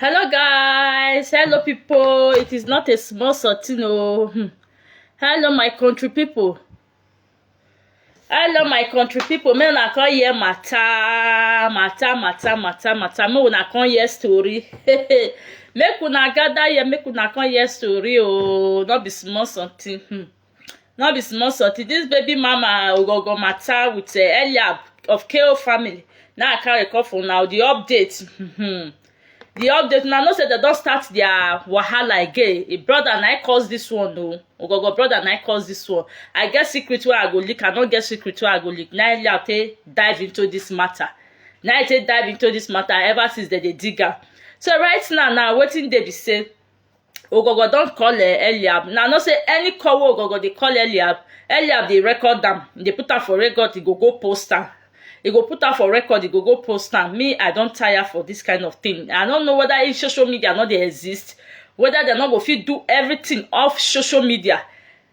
Hello guys, hello people. It is not a small sorting oh. Hmm. Hello my country people. Hello my country people. Make una come hear matter, matter, matter, matter, matter. Make una come hear story. make una gather here, make una come hear story oh. No be small something. Hmm. no be small sortie this baby mama ogogo matter with uh, eliab of ko family now i carry come for now the update Mhm. the update na know say dem don start their wahala again e brother na im cause this one o ogogo brother na im cause this one i get secret wey i go leak i no get secret wey i go leak na eliab take dive into this matter na im take dive into this matter ever since dem dey dig am so right now na wetin dey be say Ogogo don call um Eliab. Now know say any call wey Ogogo dey call Eliab, Eliab dey record am, e dey put am for record, e go go post am. E go put am for record, e go go post am. Me, I don tire for this kind of thing. I no know whether if social media no dey exist, whether dem no go fit do everything off social media.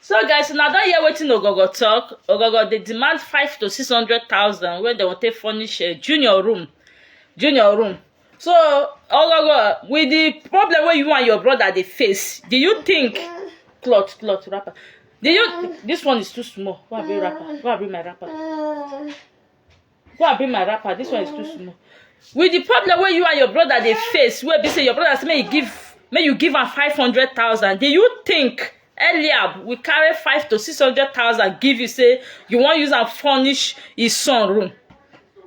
so guys una don hear wetin ogogo talk ogogo dey demand five to six hundred thousand wey dem go take furnish uh, junior room junior room so ogogo with the problem wey you and your brother dey face do you think cloth cloth wrapper do you this one is too small why i bring wrapper why i bring my wrapper go and bring my wrapper this one is too small with the problem wey you and your brother dey face wey be say your brother say make you give make you give am five hundred thousand do you think eliab will carry five to six hundred thousand give you say you wan use am furnish his son room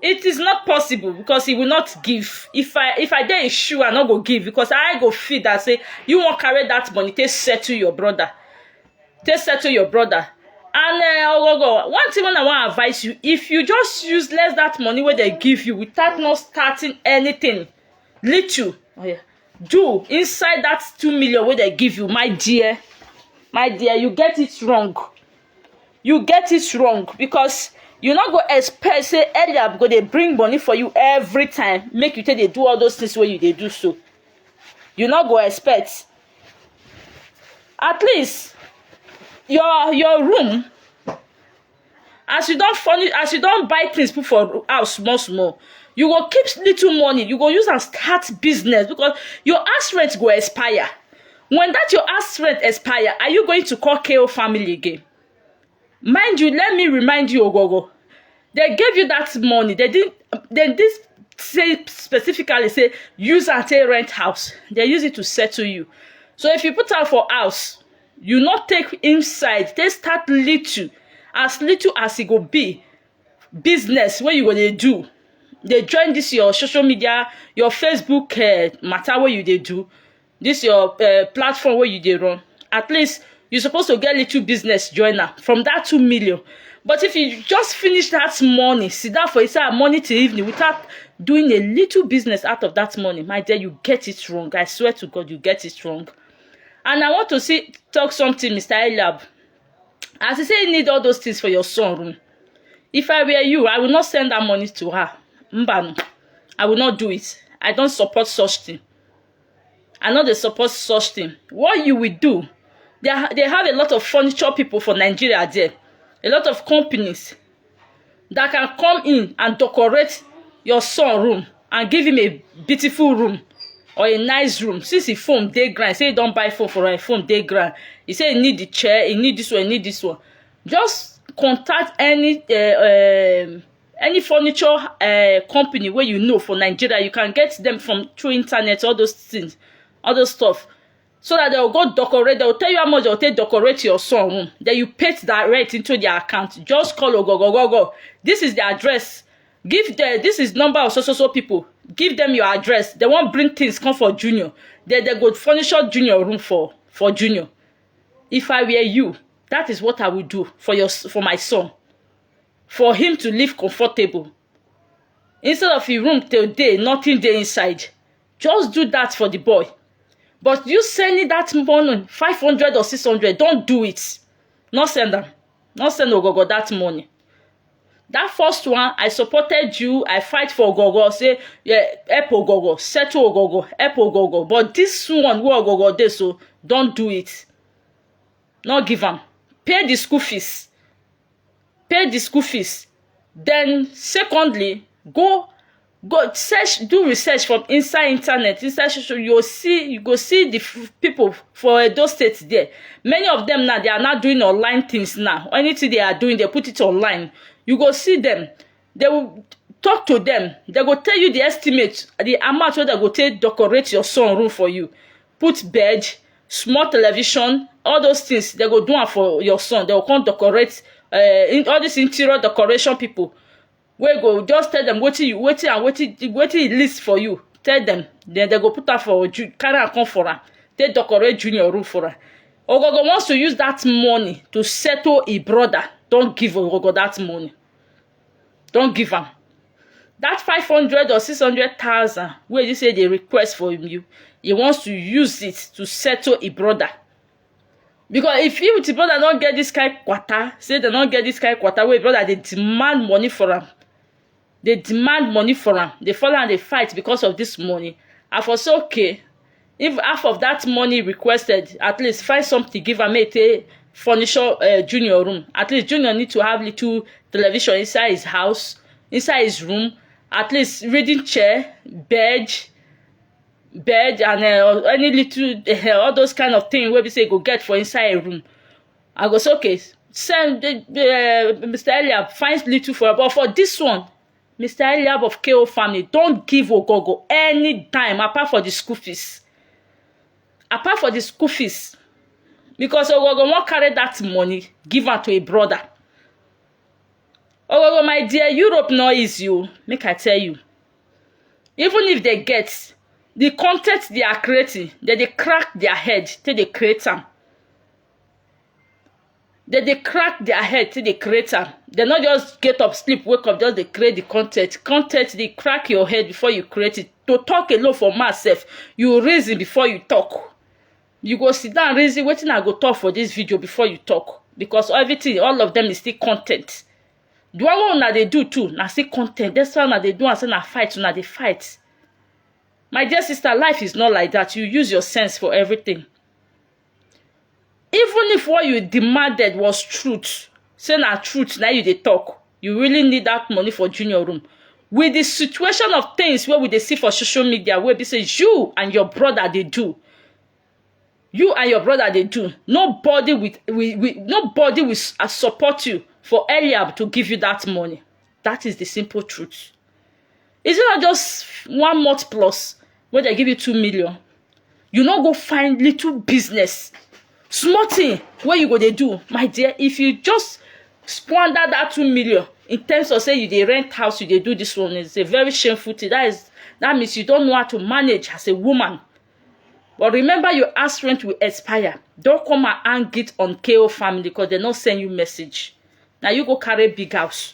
it is not possible because he will not give if i if i dey his shoe i no go give because i go feel that say you wan carry that money take settle your brother take settle your brother and uh, ogogo one thing wey i wan advise you if you just use less that money wey dem give you without not starting anything little oh yeah, do inside that two million wey dem give you my dear my dear you get it wrong you get it wrong because you no go expect say eliab go dey bring money for you every time make you take dey do all those things wey you dey do so you no go expect at least your your room as you don furnish as you don buy things put for house small small you go keep little money you go use am start business because your house rent go expire when that your house rent expire are you going to call KO family again mind you let me remind you ogogo they gave you that money they didn't they did say specifically say use and take rent house they use it to settle you so if you put am for house you no take inside take start little as little as e go be business wey you go dey do dey join this your social media your facebook uh, matter wey you dey do this your uh, platform where you dey run at least you supposed to get little business joiner from that two million but if you just finish that money sit down for inside money till evening without doing a little business out of that money my dear you get it wrong i swear to god you get it wrong and i want to see talk something mr elab as he say he need all those things for your son room if i were you i will not send that money to her mbanu i will not do it i don't support such thing I no dey support such thing. What you will do, they, ha- they have a lot of furniture people for Nigeria there, a lot of companies that can come in and decorate your son room and give him a beautiful room or a nice room. Since he phone dey ground, he say he don buy phone for her, him phone dey ground. He say he need the chair, he need this one, he need this one. Just contact any uh, um, any furniture uh, company wey you know for nigeria you can get them from through internet all those things all those stuff so that they will go decorate they will tell you how much they will take decorate your son room then you pay direct into their account just call ogogogogo this is the address give the this is number of so so so people give them your address they wan bring things come for junior then they go furnish your junior room for for junior if i were you that is what i would do for your s- for my son for him to live comfortable instead of him room to dey nothing dey inside just do that for the boy but you sending that money five hundred or six hundred don do it no send am no send ogogo that money that first one i supported you i fight for ogogo say yeah, help ogogo settle ogogo help ogogo but this one wey ogogo dey so don do it no give am pay the school fees pay di school fees den secondly go go search do research for inside internet inside social you go see you go see di pipo for edo state there many of dem now they are now doing online things now anything they are doing they put it online you go see dem they will talk to them they go tell you the estimate the amount wey they go take decorate your son room for you put bed small television all those things they go do am for your son they go come decorate uh, in, all these interior decoration people wey go just tell them wetin you wetin and wetin wetin e list for you tell them then they go put am for ju carry am come for am take decorate junior room for am ogogo wants to use that money to settle e brother don give ogogo that money don give am that five hundred or six hundred thousand wey you say dey request for you he wants to use it to settle e brother because if he with e brother no get this kind kwata say dem no get this kind kwata wey e brother dey demand money for am dey demand money for am dey follow am dey fight because of this money i for say okay if half of that money requested at least find something give am make e take furnish uh, junior room at least junior need to have little television inside his house inside his room at least reading chair bed bed and uh, any little uh, all those kind of thing wey be say e go get for inside a room i go say okay send uh, mr eliab find little for am but for this one Mister Eliab of KO family don give Ogogo any time apart for the school fees. Apart for the school fees. Because Ogogo wan carry that money give am to a brother. Ogogo my dear Europe no easy o make I tell you. Even if they get the content they are creating, they dey crack their head till they create am. dem dey crack their head take dey create am dem no just get up sleep wake up just dey create the content content dey crack your head before you create it to talk alone for mouth sef you reason before you talk you go sit down reason wetin i go talk for this video before you talk because everything all of them is still content the one wey una dey do too na still content that's why una dey do am say na fight una dey fight my dear sister life is not like that you use your sense for everything even if what you demanded was truth say na truth na you dey talk you really need that money for junior room with the situation of things wey we dey see for social media wey be say you and your brother dey do you and your brother dey do nobody with with, with nobody will s- uh, support you for Eliab to give you that money that is the simple truth is it not just one month plus wey dem give you two million you no go find little business small thing wey you go dey do my dear if you just squander that two million in terms of say you dey rent house you dey do this one it's a very shameful thing that is that means you don't know how to manage as a woman but remember your house rent will expire don't come and hang it on ko family because they no send you message na you go carry big house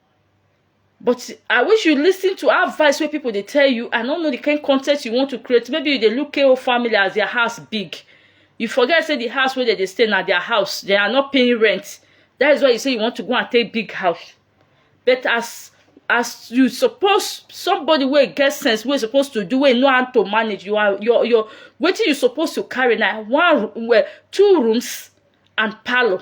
but i wish you listen to advice wey people dey tell you i no know the kind content you want to create maybe you dey look ko family as their house big you forget say the house wey dem dey stay na their house they are not paying rent that is why you say you want to go and take big house but as as you suppose somebody wey get sense wey suppose to do wey know how to manage you are your your wetin you suppose to carry na one well two rooms and parlour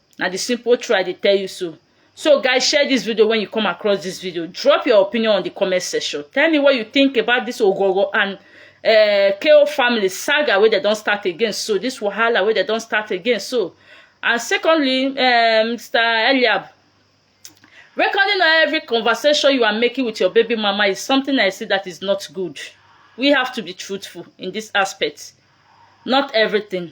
na the simple truth i dey tell you so so guys share this video when you come across this video drop your opinion on the comment section tell me what you think about this ogoro and uh, ko family saga wey dem don start again so this wahala wey dem don start again so and secondly uh, mr eliab Recording every conversation you are making with your baby mama is something I see that is not good. We have to be truthful in this aspect. Not everything.